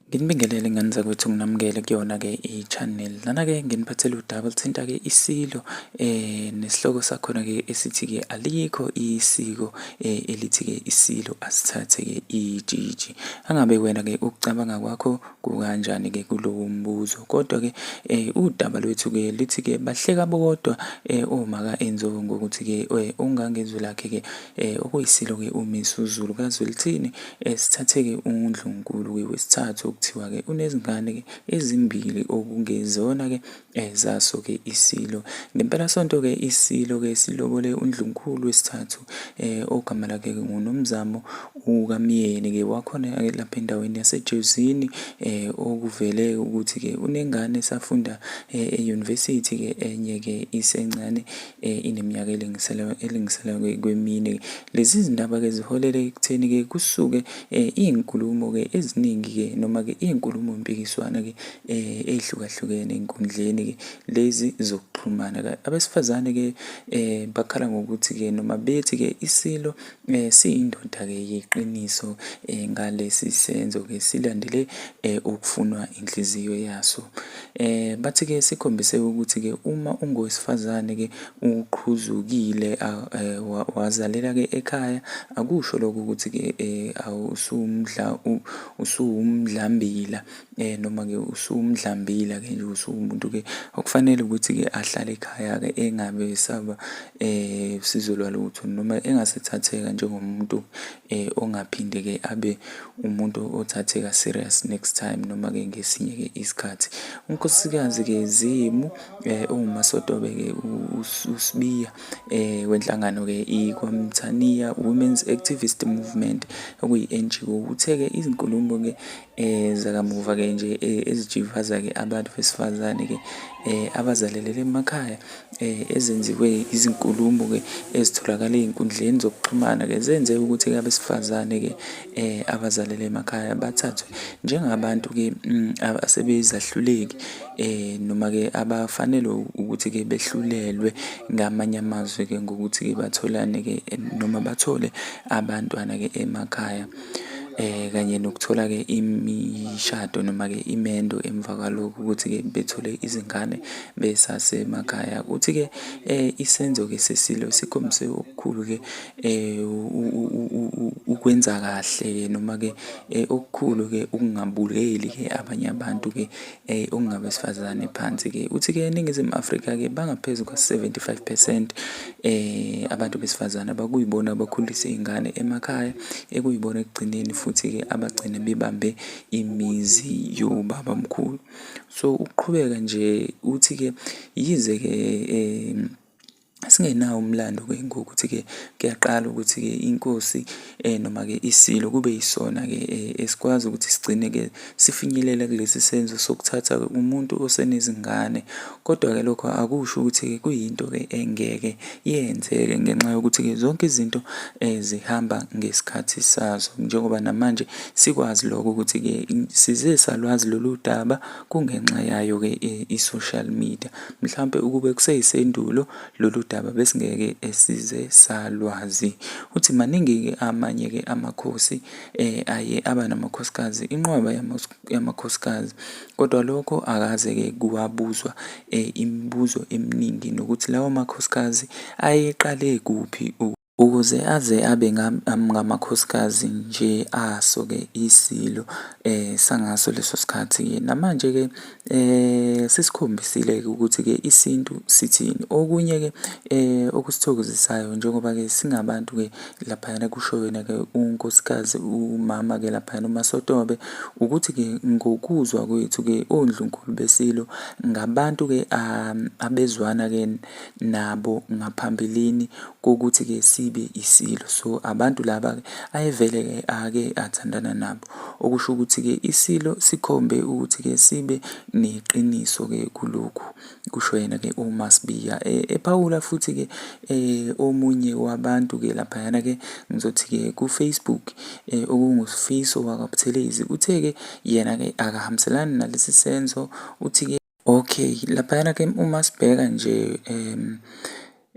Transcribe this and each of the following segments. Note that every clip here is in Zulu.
Nginibingelele ngane zakwethu nginamukele kuyona-ke i-channel lana-ke nginiphathele udaba oluthinta-ke isilo eh nesihloko sakhona-ke esithi-ke alikho isiko eh elithi-ke isilo asithathe-ke ijiji angabe wena-ke ukucabanga kwakho kukanjani-ke kulowo mbuzo kodwa-ke eh udaba lwethu-ke lithi-ke bahleka bodwa eh omaka enzo ngokuthi-ke eh ungangezwi lakhe-ke Eh, okuyisilo-ke uMisuzulu kaZwelithini eh, sithathe-ke uNdlunkulu-ke wesithathu okuthiwa-ke unezingane-ke ezimbili okungezona-ke eh, zaso-ke isilo. Ngempelasonto-ke isilo-ke silobole uNdlunkulu wesithathu eh, ogama lakhe-ke nguNomzamo ukamyeni-ke wakhona-ke lapha endaweni yasejozini eh, okuvele ukuthi-ke unengane esafunda eh, eyunivesithi-ke enye-ke isencane Eh, ineminyaka elingisela kwemine. Lezi zindaba-ke ziholele ekutheni-ke kusuke eh, iy'nkulumo-ke eziningi-ke noma-ke iy'nkulumo mpikiswana-ke eh, ey'hlukahlukene ey'nkundleni-ke lezi zokuxhumana. Abesifazane-ke bakhala ngokuthi-ke noma bethi-ke iSilo Eh, siyindoda-ke yeqiniso eh, ngalesi senzo-ke silandele eh, okufunwa inhliziyo yaso. Eh, bathi-ke sikhombise ukuthi-ke uma ungowesifazane-ke uqhuzukile ah, eh, wazalela-ke ekhaya akusho lokho ukuthi-ke eh, awusumdla usuwumdlambila Eh noma-ke usumdlambile-ke nje usuwumuntu-ke okufanele ukuthi-ke ahlale ekhaya-ke engabe esaba eh usizo lwalutho noma engasethatheka njengomuntu eh ongaphinde-ke abe umuntu othatheka serious next time noma-ke ngesinye-ke isikhathi. UNkosikazi-ke Zimu eh owumasotobe-ke uSibiya eh wenhlangano-ke iKwaMthaniya Women's Activist Movement okuyi-NGO uthe-ke izinkulumo-ke eh zakamuva ke nje eh, ezijivaza ke abantu besifazane ke eh abazalelele emakhaya eh ezenziwe izinkulumo ke ezitholakala ezinkundleni zokuxhumana ke zenze ukuthi abesifazane ke eh abazalele emakhaya bathathwe njengabantu ke mm, asebezahluleki eh noma ke abafanele ukuthi ke behlulelwe ngamanye amazwi ke ngokuthi ke batholane ke noma bathole abantwana ke emakhaya eh kanye nokuthola ke imishado noma ke imendo emva kwalokho ukuthi ke bethole izingane besasemakhaya kuthi ke eh isenzo ke sesilo sikhombise okukhulu ke eh ukwenza kahle noma ke eh, okukhulu ke ukungabuleli ke abanye abantu ke Ey okungabesifazane phansi ke. Uthi ke eNingizimu Afrika ke bangaphezu kwa-75 percent eh abantu besifazane abakuyibona abakhulisa izingane emakhaya ekuyibona ekugcineni futhi ke abagcine bebambe imizi yobaba mkhulu. So ukuqhubeka nje uthi ke yize ke eh singenawo umlando-ke ngokuthi-ke kuyaqala ukuthi-ke inkosi um noma-ke isilo kube yisona-ke um esikwazi ukuthi sigcine-ke sifinyelela kulesi senzo sokuthatha umuntu osenezingane kodwa-ke lokho akusho ukuthi-ke kuyinto-ke engeke yenzeke ngenxa yokuthi-ke zonke izinto um zihamba ngesikhathi sazo njengoba namanje sikwazi lokho ukuthi-ke size salwazi lolu daba kungenxa yayo-ke i-social media Mhlampe ukube kuseyisendulo lolu daba besingeke esize salwazi. Uthi maningi-ke amanye-ke amakhosi um aye aba namakhosikazi, inqwaba yamakhosikazi, kodwa lokho akaze-ke kwabuzwa um imibuzo eminingi nokuthi lawo makhosikazi ayeqale kuphi. Ukuze aze abe ngamakhosikazi nje aso-ke iSilo sangaso leso sikhathi-ke. Namanje-ke sesikhombisile-ke ukuthi-ke isintu sithini. Okunye-ke okusithokozisayo njengoba-ke singabantu-ke laphayana kusho yena-ke unkosikazi umama-ke laphayana uMaSotobe, ukuthi-ke ngokuzwa kwethu-ke oNdlunkulu beSilo ngabantu-ke abezwana-ke. nabo ngaphambilini kokuthi ke sibe isilo so abantu laba ke ayevele ke ake athandana nabo okusho ukuthi ke isilo sikhombe ukuthi ke sibe neqiniso ke kulokhu kusho yena ke uMasibiya e, ephawula futhi ke eh, omunye wabantu ke lapha yana ke ngizothi ke ku Facebook eh, okungusifiso wakabuthelezi uthe ke yena ke akahambiselani nalesi senzo uthi ke Okay, laphayana ke uma sibheka nje um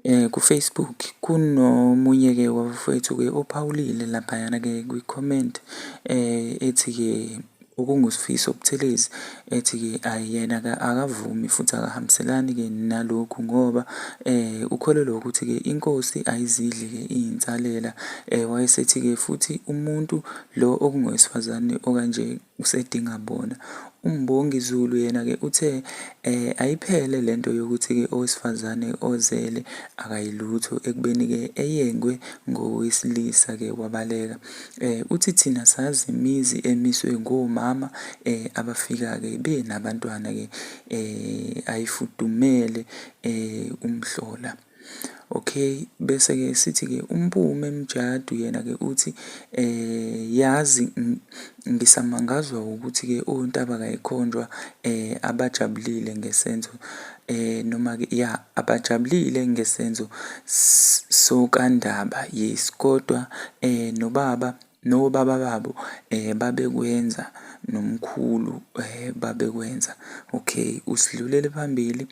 eh, ku-Facebook kunomunye-ke wabafowethu-ke ophawulile laphayana-ke kwi-comment um ethi-ke okungusifiso obuthelezi ethi-ke ayi yena-ke akavumi futhi akahambiselani-ke nalokhu ngoba um ukholelwa ukuthi-ke inkosi ayizidli-ke iyinsalela um wayesethi-ke futhi umuntu lo okungowesifazane okanje usedinga bona. UMbongi Zulu yena-ke uthe eh, ayiphele le nto yokuthi-ke owesifazane ozele akayilutho ekubeni-ke eyengwe ngowesilisa-ke wabaleka. Eh, uthi thina sazi imizi emiswe ngomama eh, abafika-ke benabantwana-ke eh, ayifudumele eh, umhlola. Okay, bese-ke sithi-ke uMpume Mjadu yena-ke uthi eh yazi ngisamangazwa ukuthi-ke ontaba kayikhonjwa eh abajabulile ngesenzo eh noma-ke ya abajabulile ngesenzo sokandaba yes kodwa eh nobaba nobaba babo eh babekwenza nomkhulu eh babekwenza okay usidlulele phambili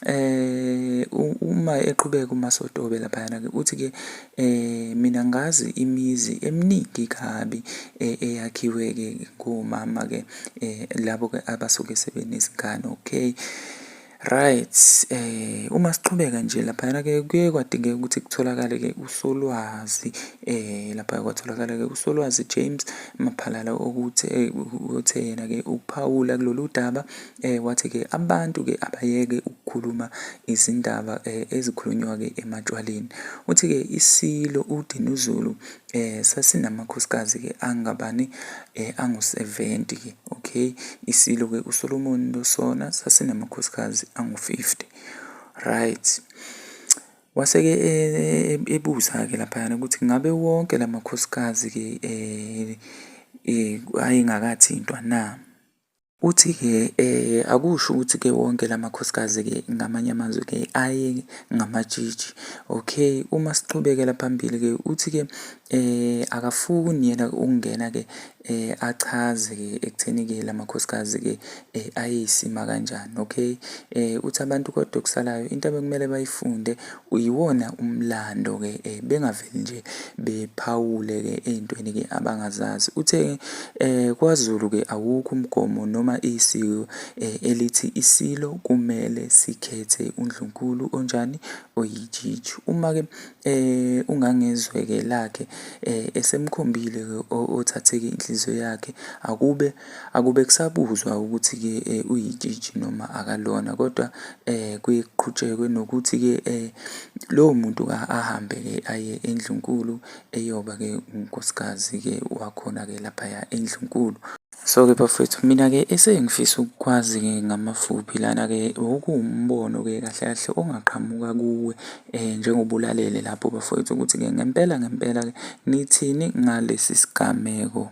eh uma eqhubeka umasotobe laphayana ke uthi ke eh mina ngazi imizi eminingi kabi eh, eyakhiwe ke ngomama ke eh labo ke abasuke sebenezingane okay Right, eh uma siqhubeka nje laphayana ke kuye kwadingeka ukuthi kutholakale ke uSolwazi eh lapha kwatholakala ke uSolwazi James Maphalala ukuthi eh, uthe yena ke ukuphawula kulolu daba eh wathi ke abantu ke abayeke ukukhuluma izindaba eh, ezikhulunywa ke ematshwaleni. Uthi ke isilo uDinuzulu Eh sasinamakhosikazi ke angabani eh angu-70 ke okay isilo ke uSolomon lo sona sasinamakhosikazi angu-50 right waseke eh, ebuza ke laphayana ukuthi ngabe wonke lamakhosikazi ke eh, eh ayengakathintwa na Uthi-ke um akusho ukuthi-ke wonke la makhosikazi-ke ngamanye amazwi-ke aye ngamatshitshi okay uma siqhubekela phambili-ke uthi-ke um akafuni yena ukungena-ke um achaze-ke ekutheni-ke la makhosikazi-ke um ayeyisima kanjani okay um uthi abantu kodwa okusalayo into abekumele bayifunde Uyiwona umlando ke eh, bengaveli nje bephawule ke ey'ntweni ke abangazazi. Uthe eh, kwaZulu ke awukho umgomo noma isiko eh, elithi isilo kumele sikhethe undlunkulu onjani oyijiji. Uma ke eh, ungangezwe ke lakhe eh, esemkhombile ke othatheke inhliziyo yakhe akube Akube kusabuzwa ukuthi-ke um uyitshitshi noma akalona kodwa um kuye kuqhutshekwe nokuthi-ke um lowo muntu-ke ahambe-ke aye endlunkulu eyoba-ke unkosikazi-ke wakhona-ke laphaya endlunkulu. So-ke bafowethu mina-ke esengifisa ukukwazi-ke ngamafuphi lana-ke okuwumbono-ke kahle kahle ongaqhamuka kuwe eh njengobulalele lapho bafowethu ukuthi ke ngempela ngempela ke nithini ngalesi sigameko